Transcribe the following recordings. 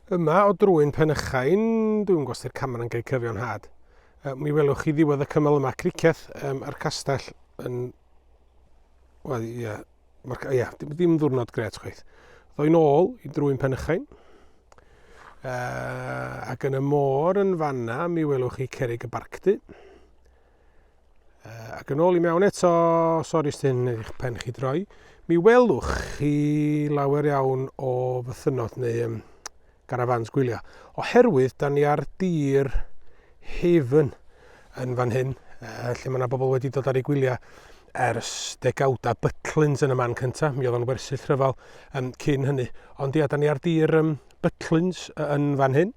Yma o drwyn Penychain, dwi'n gwybod sy'r camer yn cael cyfio'n had. Um, mi welwch chi ddiwedd y cymal yma, criceth um, a'r castell yn... Wel, ie, yeah, Mae'r, ia, dim, dim ddwrnod gret chwaith. Ddoi'n ôl i drwy'n penychain. Uh, ac yn y môr yn fanna, mi welwch chi cerig y barcdy. Uh, ac yn ôl i mewn eto, sori sy'n eich pen chi droi, mi welwch chi lawer iawn o fythynod neu um, garafans gwylio. Oherwydd, da ni ar dir Haven yn fan hyn, uh, lle mae yna bobl wedi dod ar ei gwyliau ers degawda Butlins yn y man cyntaf, mi oedd o'n wersyll rhyfel um, cyn hynny. Ond ia, da ni ar dir um, Butlins yn fan hyn,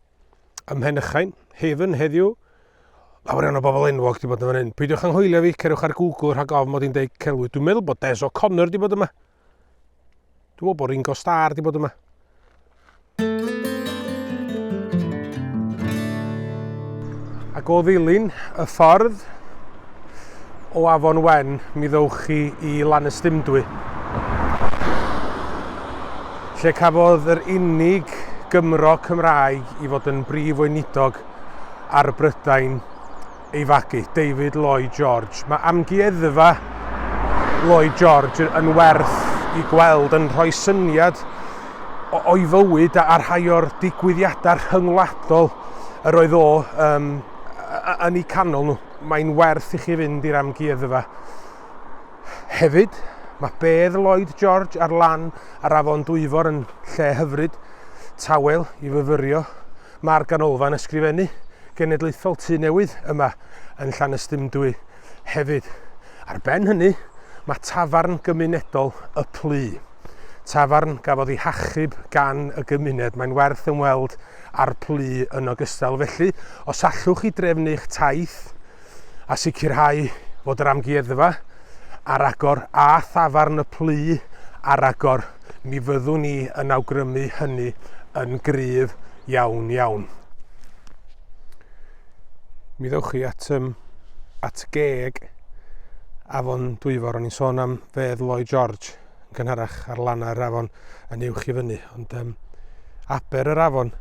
ym Mhenychain, Haven, heddiw. Lawer iawn o bobl enwog wedi bod yn fan hyn. Peidiwch anghwylio fi, cerwch ar Google rhag ofn mod i'n deud celwydd. Dwi'n meddwl bod Des O'Connor wedi bod yma. Dwi'n meddwl bod Ringo Starr wedi bod yma. Ac o ddilyn y ffordd o Afon Wen, mi ddewch chi i Lanystumdwy. lle cafodd yr unig Gymro Cymraeg i fod yn Brif Weinidog ar Brydain ei fagu, David Lloyd George. Mae amgueddfa Lloyd George yn werth i gweld yn rhoi syniad o'i fywyd a rhai o'r digwyddiadau rhyngwladol yr oedd o um, yn eu canol nhw. Mae'n werth i chi fynd i'r amgueddfa. Hefyd, mae bedd Lloyd George ar lan yr afon Dwyfor yn lle hyfryd, tawel, i fyfyrio. Mae'r Ganolfan Ysgrifennu Genedlaethol Tŷ Newydd yma yn Llanystumdwy hefyd. Ar ben hynny, mae tafarn gymunedol Y Plu. Tafarn gafodd ei hachub gan y gymuned. Mae'n werth ymweld â'r Plu yn ogystal. Felly, os allwch chi drefnu eich taith a sicrhau fod yr amgueddfa ar agor a thafarn y plu ar agor, mi fyddwn ni yn awgrymu hynny yn gryf iawn iawn. Mi ddewch chi at, um, at geg Afon Dwyfor, o'n i'n sôn am fedd Lloyd George. yn cynharach ar lannau yr afon yn uwch i fyny, ond um, aber yr afon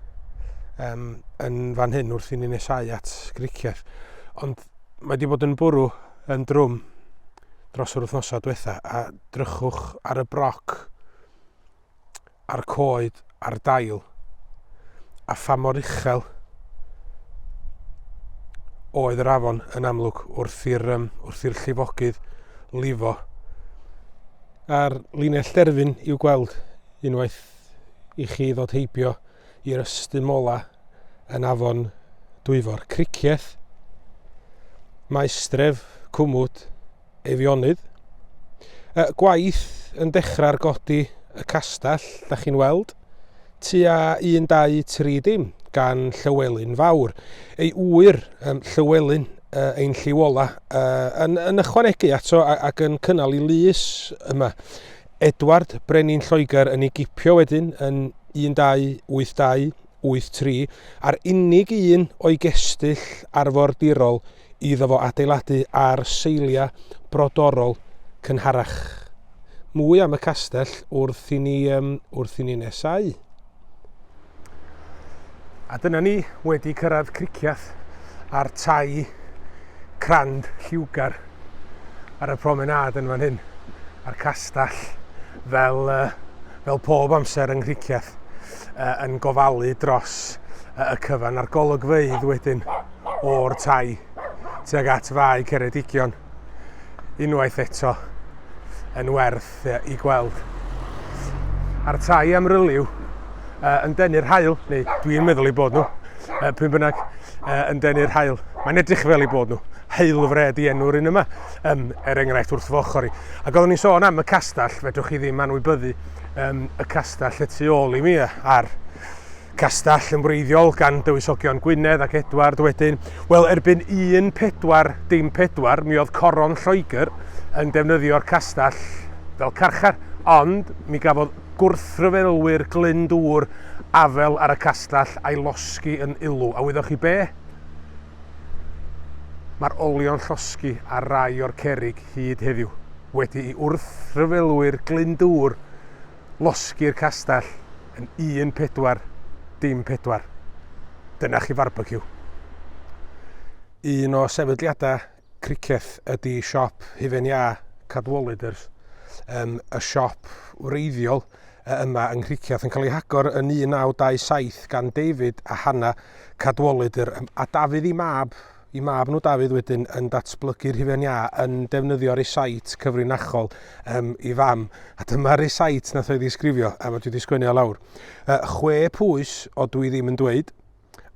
um, yn fan hyn wrth i ni nesau at griciau. Ond mae wedi bod yn bwrw yn drwm dros yr wythnosau diwetha a drychwch ar y broc a'r coed a'r dail, a pha mor uchel oedd yr afon yn amlwg wrth i'r um, wrth i'r llifogydd lifo. A'r linell derfyn i'w gweld unwaith i chi ddod heibio i'r ystum mola yn afon Dwyfor. Cricieth, maestref, cwmwd, Eifionydd. Y gwaith yn dechrau ar godi y castell, da chi'n weld, tua 1, 2, 3 dim, gan Llywelyn Fawr. Ei ŵyr, um, Llywelyn, uh, ein lliw ola, uh, yn, yn ychwanegu ato ac yn cynnal i lys yma. Edward, Brenin Lloegr, yn ei gipio wedyn yn 1282 wyth tri, a'r unig un o'i gestyll arfordirol iddo fo adeiladu ar seiliau brodorol cynharach. Mwy am y castell wrth i ni, um, wrth i ni nesau. A dyna ni wedi cyrraedd Criciath a'r tai crand lliwgar ar y promenad yn fan hyn, a'r castell fel, uh, fel pob amser yng Nghriciath. yn gofalu dros y cyfan a'r golygfeydd wedyn o'r tai tuag at fai Ceredigion unwaith eto yn werth i gweld. A'r tai amryliw yn denu'r hael, neu dwi'n meddwl i bod nhw, pwy bynnag yn denu'r hael. Mae'n edrych fel i bod nhw heilfred i enw'r un yma, um, er enghraifft wrth fy ochr i. Ac oeddwn i'n sôn am y castell, fedrwch chi ddim anwybyddu um, y castell y tu ôl i mi a'r castell yn wreiddiol gan dywysogion Gwynedd ac Edward wedyn. Wel, erbyn 14 dim 4, mi oedd coron Lloegr yn defnyddio'r castell fel carchar, ond mi gafodd gwrthryfelwyr Glyn Dŵr afel ar y castell a'i losgi yn Ilw. A wyddoch chi be? Mae'r olion llosgi ar rai o'r cerrig hyd heddiw, wedi i wrthryfelwyr Glyndŵr losgi'r castell yn un pedwar, dim pedwar. Dyna chi farbeciw. Un o sefydliadau criceth ydy siop hufen iâ Cadwaladrs, yym, y siop wreiddiol y yma yng Nghricieth yn cael ei hagor yn 1927 gan David a Hannah Cadwallader yr yym a Dafydd i mab i mab nhw Dafydd wedyn yn datblygu'r hufen iâ yn defnyddio recite cyfrinachol um, i fam a dyma recite nath o'i ddisgrifio a mae dwi wedi sgwennu o lawr uh, chwe pwys o dwi ddim yn dweud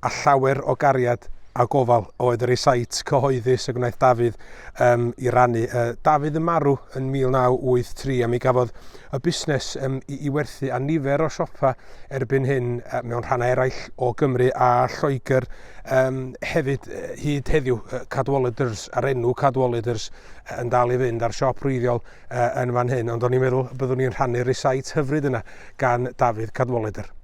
a llawer o gariad a gofal oedd yr esait cyhoeddus y gwnaeth Dafydd um, i rannu. Uh, Dafydd yn marw yn 1983 a mi gafodd y busnes um, i, i werthu a nifer o siopa erbyn hyn uh, mewn rhannau eraill o Gymru a Lloegr um, hefyd uh, hyd heddiw uh, Cadwaladers a'r enw Cadwaladers uh, yn dal i fynd a'r siop rwyddiol uh, yn fan hyn ond o'n i'n meddwl byddwn ni'n rhannu'r esait hyfryd yna gan Dafydd Cadwalader.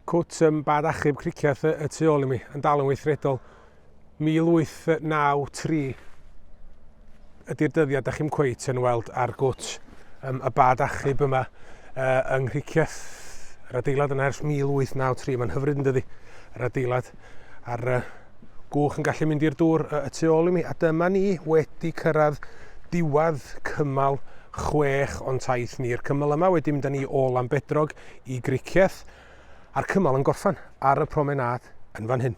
Cwt ym bad achub cricieth y tu ôl i mi, yn dal yn weithredol. 1893 ydy'r dyddiad, da chi'n cweit yn weld ar gwt um, y bad achub yma uh, yng Nghricieth. Yr adeilad yna ers 1893, mae'n hyfryd yn dydi, yr adeilad. A'r uh, gwch yn gallu mynd i'r dŵr uh, y tu ôl i mi. A dyma ni wedi cyrraedd diwad cymal chwech o'n taith ni. Yr cymal yma wedi mynd â ni o Lambedrog i Gricieth. a'r cymal yn gorffen ar y promenâd yn fan hyn.